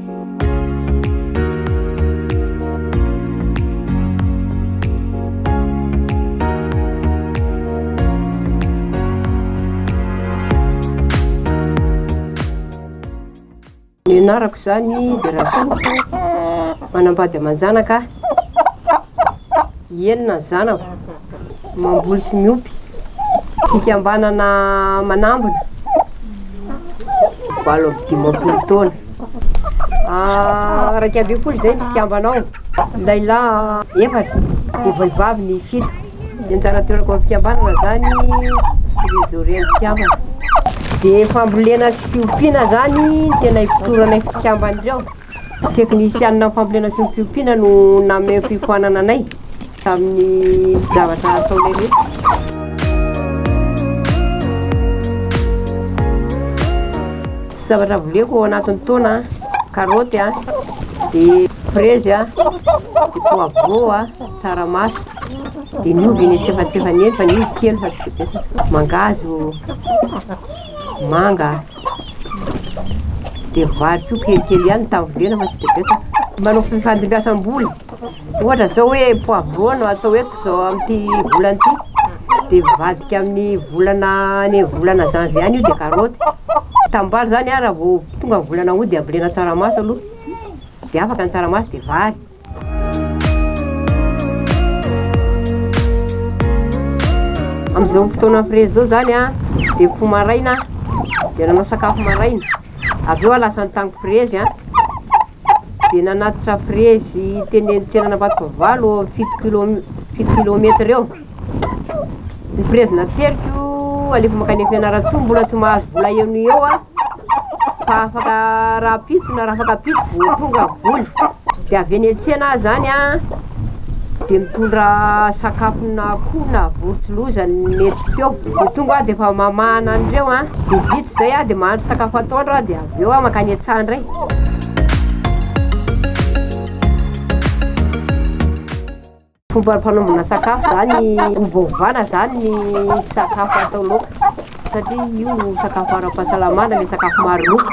Ny anarako izany dia Rasoa, manambady aman-janaka enina ny zanako. Mamboly sy miompy. Fikambanana manambina, valo amby dimampolo taona. Iraika ambin'ny folo izay ny mpikambana ao. Lehilahy efatra, dia vehivavy ny fito. Ny anjara aterako amin'ny fikambanana izany, trésorier ny mpikambana. Dia fambolena sy fiompiana izany no tena ifotoranay mpikambana ireo. Teknisianina amin'ny fambolena sy ny fiompiana no nanome fiofanana anay tamin'ny zavatra ataonay rehetra. Zavatra voleko ao anatin'ny taona an, karaoty an, dia frezy an, dia poivron an, tsaramaso, dia ny ovy eny antsefatsefany eny fa ny ovy kely fa tsy dia betsaka, mangahazo, manga. Dia vary koa kelikely ihany ny taoriana fa tsy dia betsaka. Manao fifandimbiasam-bola. Ohatra izao hoe poivron no atao eto izao amin'ity volana ity, dia mivadika amin'ny volana any amin'ny volana janvier any io dia karaoty. Tanimbary izany an, raha vao tonga ny volana aout dia ambolena tsaramaso aloha, dia afaka ny tsaramaso dia vary. Amin'izao fotoana prezy izao izany an, dia mifoha maraina aho, dia nanao sakafo maraina, avy eo aho lasa nitany prezy an, dia nanatitra prezy teny an-tsenan'Ambatovavalo, fito kilome- fito kilometatra eo. Ny prezin'ny ateriko alefa mankany Fianarantsoa mbola tsy mahazo vola eo noho eo aho fa afaka rahampitso na rafakapitso vao tonga vola dia avy eny an-tsena aho izany a dia mitondra sakafona akoho na vory tsy loza nentiko teo vao tonga aho dia efa mamahana an'ireo a dia vita izay aho dia mahandro sakafo atoandro aho dia avy eo aho mankany an-tsaha indray Fomba fanaovana sakafo zany ovaovana zany ny sakafo atao laoka satria io sakafo ara-pahasalamana le sakafo maro loko.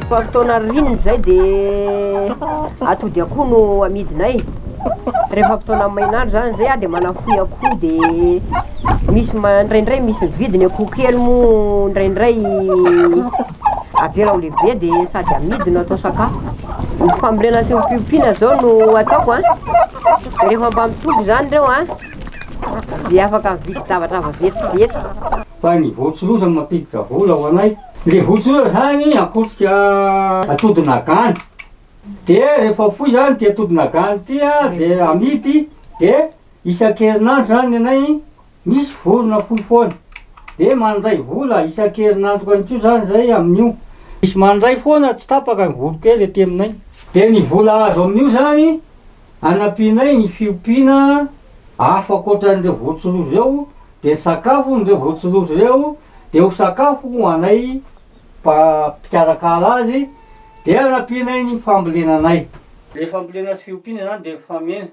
Fa fotoana ririnina izay de atody akoho no amidinay, rehefa fotoana main'andro zany zay ah de manafoy akoho de misy ma- ndraindray misy mividy ny akoho kely moa ndraindray. avy eo raha mbola be de sady amidy no atao sakafo, ny fambolena sy ny fiompiana zao no ataoko a, de rehefa mba mitombo zany reo a de afaka mividy zavatra vetivety. Fa ny volotsiloza no mampiditra vola ho anay, le volotsiloza zany akotrika atody nagana, de rehefa foy zany ty atody nagana ty a de amidy de isan-kerinandro zany ny anay, Misy vorona fohy foana. Dia mandray vola isan-kerinandro ihany koa izany izay amin'io. Misy mandray foana tsy tapaka ny voronkely ety aminay. Dia ny vola azo amin'io izany anampianay ny fiompiana afo ankoatran'ireo vorontsiloza ireo, dia ny sakafon'ireo vorontsiloza ireo dia ho sakafo ho anay mpikarakara azy, dia anampianay ny fambolena anay. Ilay fambolena sy fiompiana izany dia mifameno.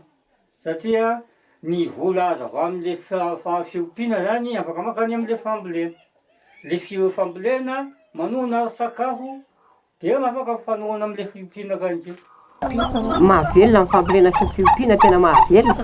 Satria ny vola azo avy amin'le fiompiana zany afaka mankany amin'le fambolena. Le fambolena manohana ara-tsakafo dia afaka mifanohana amin'le fiompiana ka ange. Mahavelona ny fambolena sy ny fiompiana, tena mahavelona.